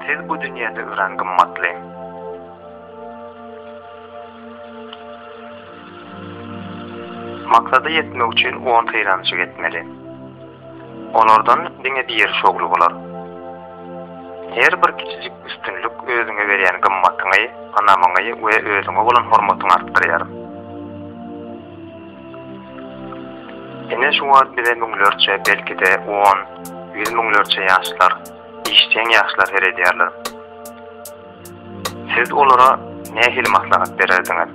Siz bu dünýede örän gymmatly. Maksada ýetmek üçin on synanyşyk etmeli. Olardan diňe biri şowly bolar. Her bir kiçijik üstünlik özüňe berýän gymmatyňy, ynamyňy we özüňe bolan hormatyňy artdyrýar. Ine şu wagt bize müňlerçe, belki-de on, ýüz müňlerçe ýaşlar, işjeň ýaşlar seredýärler. Siz olara nähili maslahat bererdiňiz?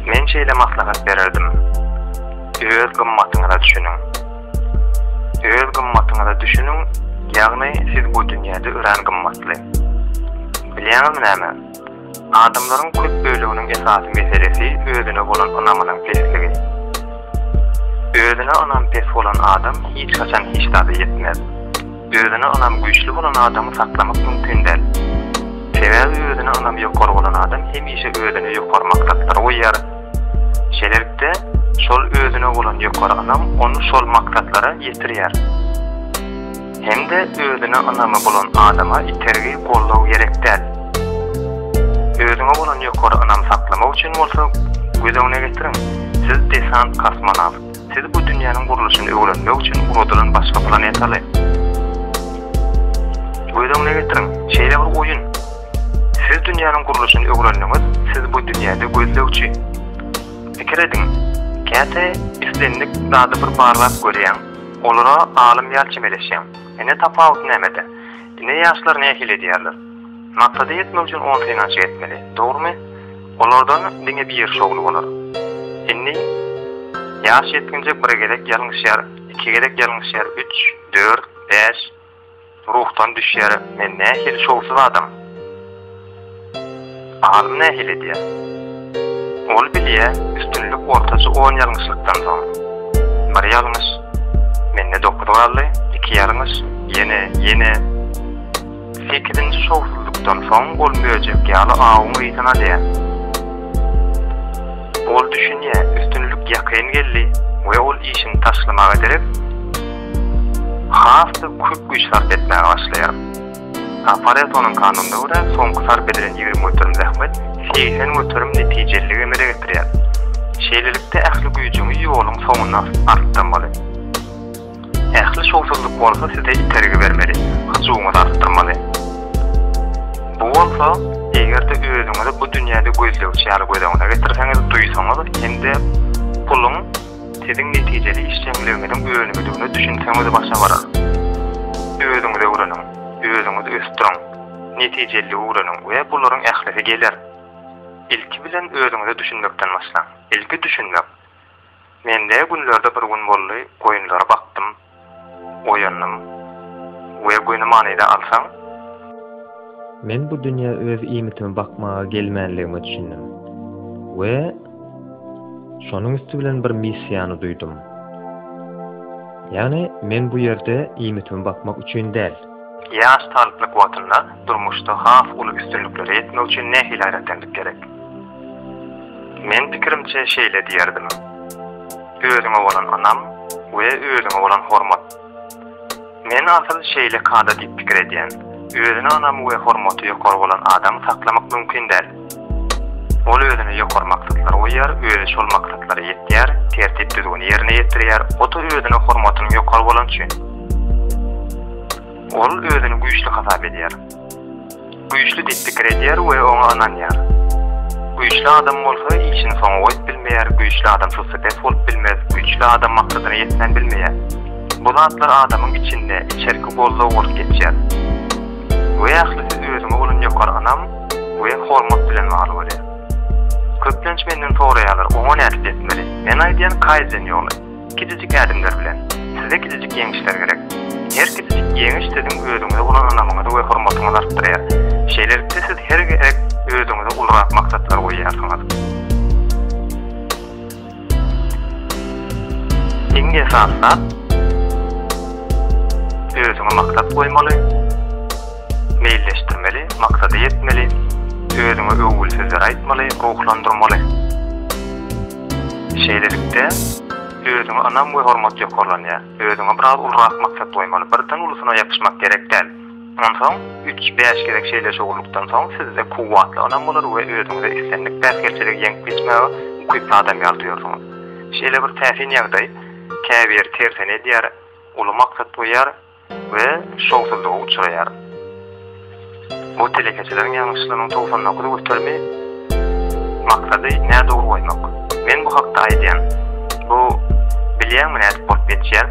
Men şeýle maslahat bererdim. Öz gymmatyňyza düşüniň. Öz gymmatyňyza düşüniň, ýagny siz bu dünýäde örän gymmatly. Bilýäňizmi näme? Adamlaryň köp böleginiň esasy meselesi özüne bolan ynamynyň pesligi. Özüne ynam pes bolan adam hiç haçan hiç zada ýetmez. Özüne ynam güýçli bolan adamy saklamak mümkin däl. Sebäbi özüne ynam ýokary bolan adam hemişe özüne ýokary maksatlar goýýar. Şeýlelikde, şol özüne bolan ýokary ynam ony şol maksatlara ýetirýär. Hem-de özüne ynamy bolan adama itergi, goldaw gerek däl. Özüňe bolan ýokary ynamy saklamak üçin bolsa, göz öňüne getiriň, siz desant-kosmonawt, siz bu dünýäniň gurluşyny öwrenmek üçin uladylan başga planetaly. Göz öňüne getiriň, şeýle bir oýun. Siz dünýäniň gurluşyny öwrendiňiz, siz bu dünýäde gözlegçi. Pikir ediň, käte islendik zady bir barlap görýäň. Olara alym ýaly çemeleşýäň. Ine tapawut nämede? Ine ýaşlar nähili edýärler? Maksada ýetmek üçin on synanşyk etmeli, dogrumy? Olardan diňe biri şowly bolar. Indi ýaş ýetginjek bir gezek ýalňyşýar, iki gezek ýalňyşýar, üç, dört, bäş, Ruhdan düşýär, men nähili şowsuz adam. Alym nähili edýär? Ol bilýär, üstünlik ortaça on ýalňyşlykdan soň. Bir ýalňyş, mende dokuz galdy, iki ýalňyş, ýene, ýene. Sekizinji şowsuzlykdan soň ol möjek ýaly awuň yzyna dä. Ol düşünýär, üstünlik ýakyn geldi we ol işini taşlamaga derek. has-da köp güýç sarp etmäge başlaýar. Paretonuň kanunyna görä, soňky sarp edilen ýigrimi göterim zähmet segsen göterim netijeliligi emele getirýär. Şeýlelikde, ähli güýjüňi ýoluň soňuna artdyrmaly. Ähli şowsuzlyk bolsa size itergi bermeli, hyjuwyňyzy artdyrmaly. Bu bolsa, eger-de özüňizi bu dünýäde gözlegçi ýaly göz öňüne getirseňiz, duýsaňyz hem-de puluň Siziň netijeli işjeňligiňiziň önümidigine düşünseňiz başa barar. Özüňizi öwreniň, özüňizi ösdüriň, netijeliligi öwreniň we bularyň ählisi geler. Ilki bilen özüňize düşünmekden başlaň. Ilki düşünmek. Mende günlerde bir gün boldy, goýunlary bakdym. Oýandym. We göni manyda alsaň. Men bu dünýä öz iýmitimi bakmaga gelmänligime düşündim. We şonuň üsti bilen bir missiýany duýdum. Ýagny men bu ýerde iýmitimi bakmak üçin däl. Ýaş talyplyk wagtynda durmuşda has uly üstünliklere ýetmek üçin nähili gaýratkenlik gerek? Men pikirimçe şeýle diýerdim. Özüňe bolan ynam we özüňe bolan hormat. Men asyl şeýle kada diýip pikir edýän, özüne ynamy we hormaty ýokary bolan adamy saklamak mümkin däl. Ol özüne ýokary maksatlar goýýar, özi şol maksatlara ýetýär, tertip-düzgüni ýerine ýetirýär, ota özüne hormatynyň ýokary bolany üçin. Ol özüni güýçli hasap edýär. Güýçli diýip pikir edýär we oňa ynanýar. Güýçli adam bolsa işini soňa goýup bilmeýär, güýçli adam sussepes bolup bilmez, güýçli adam maksadyna ýetmän bilmeýär. Bu zatlar adamyň içinde, içerki goldaw bolup geçýär. We ählisi özüňe bolan ýokary ynam we hormat bilen bagly bolýar. Köplenç menden soraýarlar, oňa nädip ýetmeli? Men aýdýan kaizen ýoly. Kiçijik ädimler bilen. Size kiçijik ýeňişler gerek. Her kiçijik ýeňiş siziň özüňize bolan ynamyňyzy we hormatyňyzy artdyrýar. Şeýlelikde siz her gezek özüňize ulurak maksatlar goýýarsyňyz. Iň esasy zat, özüňe maksat goýmaly, meýilleşdirmeli, maksada ýetmeli, özüňe öwgülsizleri aýtmaly, ruhlandyrmaly. Şeýlelikde, özüňe ynam we hormat ýokarlanýar. Özüňe biraz ulurak maksat goýmaly. Birden ulusyna ýapyşmak gerek däl. Onsoň, üç, bäş gezek şeýle şowluklykdan soň, sizde kuwwatly ynam bolar we özüňize islendik päsgelçiligi ýeňip geçmäge ukyply adam ýaly duýarsyňyz. Şeýle bir täsin ýagdaý, käbiri tersine edýär, uly maksat goýýar, we şowsuzlyga uçraýar. Bu telekeçileriň ýalňyşlygynyň togsan dokuz göterimi maksady nädogry goýmak. Men bu hakda aýdýan. Bu bilýäňmi nädip bolup geçýär?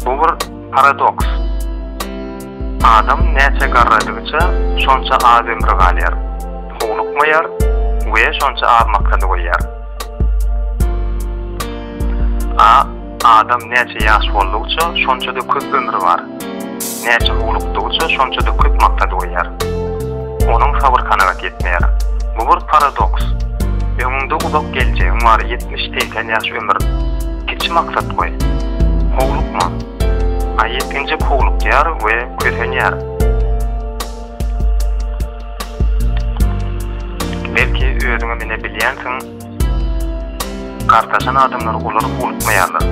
Bu bir paradoks. Adam näçe garradygyça şonça az ömri galýar, howlukmaýar we şonça az maksady goýýar. A. Adam näçe ýaş boldugça, şonça-da köp ömri bar. Näçe howlukdygça, şonça-da köp maksady goýýar. Onuň sabyr kanagat ýetmeýär. Bu bir paradoks. Öňüňde uzak geljegiň bar, ýetmiş, segsen ýaş ömür. Kiçi maksat goý. Howlukma. A ýetginjek howlukýar we kösenýär. Belki, özüňem ine bilýänsiň, Gartaşan adamlar olary uwlukmaýarlar.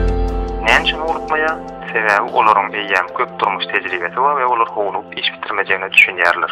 Näme üçin uwlukmaýar? Sebäbi olaryň eýýäm köp durmuş tejribesi bar we olar howlugyp iş bitirmejegine düşünýärler.